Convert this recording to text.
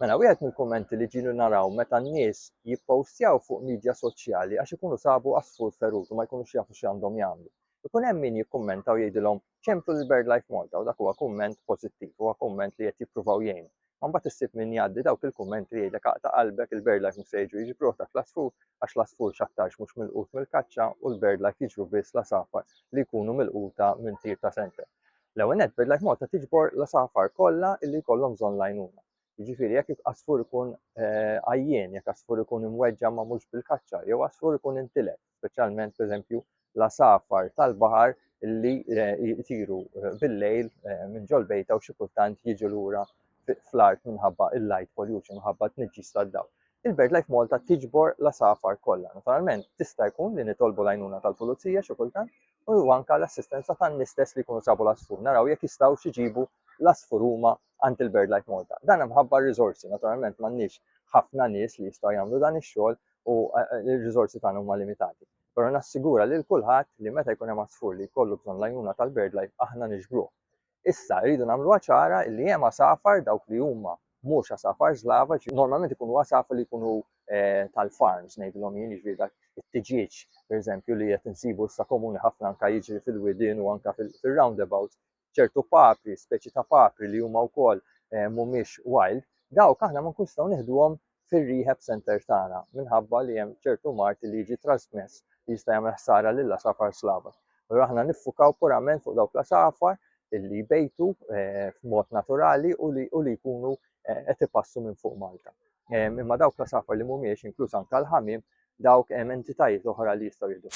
Mela wieħed mill-kummenti li ġielu naraw meta n-nies jippostjaw fuq midja soċjali għax ikunu sabu għasfur ferut u ma jkunux jafu x'għandhom jagħmlu. Ikun hemm min jikkummenta u jgħidilhom ċemplu lil BirdLife Malta u dak huwa kumment pożittiv, huwa kumment li qed jippruvaw jgħinu. Ma mbagħad issib min jgħaddi dawk il-kummenti li jgħidlek aqta' qalbek il-BirdLife mhux se jiġu jiġbruh dak l-għasfur għax l-għasfur x'aktarx mhux milqut mill-kaċċa u l-BirdLife jiġbru biss l-għasafar li jkunu milquta minn tir ta' senter. L-ewwel nett, BirdLife Malta tiġbor l-għasafar kollha li jkollhom bżonn l-għajnuna. Jiġifieri jekk għasfur ikun eh, għajjien, jekk għasfur ikun imweġġa' ma mhux bil-kaċċa, jew għasfur ikun intilef, speċjalment pereżempju l-għasafar tal-baħar li eh, jtiru eh, bil-lejl minn ġol bejta u xi kultant jiġu lura fl-art minħabba il-light pollution, minħabba t-nġis tad-dawl. Il-BirdLife Malta tiġbor l-għasafar kollha. Naturalment, tista' jkun li nitolbu l-għajnuna tal-pulizija xi kultant, u anka l-assistenza tan-nies stess li jkunu sabu l-asfur, naraw jekk jistgħu xiġibu l-asfur huma għand il-Bird Life Malta. Dan hemm ħabba riżorsi, naturalment m'għandniex ħafna nies li jistgħu jagħmlu dan ix-xogħol u eh, eh, l-riżorsi tagħna huma limitati. Però nassigura lil kulħadd li meta jkun hemm asfur li jkollu bżonn l-għajnuna tal-Bird Life aħna niġbruh. Issa, rridu nagħmluha ċara li hemm għasafar dawk li huma mhux għasafar żlava, normalment ikunu għasafar li jkunu eh, tal-farms, ngħidilhom jien jiġri dak it-tiġieġ, pereżempju, li qed insibu issa komuni ħafna anka jiġri fil-widien u anka fil-roundabout, ċertu papri, speċi ta' papri li huma wkoll eh, mhumiex wild, dawk aħna ma nkunx nistgħu nieħduhom fir-rehab center tagħna minħabba li hemm ċertu mard li jiġi trasmess li jista' jagħmel ħsara lill-għasafar slava. Allura aħna niffukaw purament fuq dawk l-għasafar li jbejtu eh, f'mod naturali u li, u li jkunu eh, qed ipassu minn fuq Malta. Eh, imma dawk l-għasafar li mhumiex inkluż anke l-ħamiem dawk hemm entitajiet oħra li jistgħu jiddu.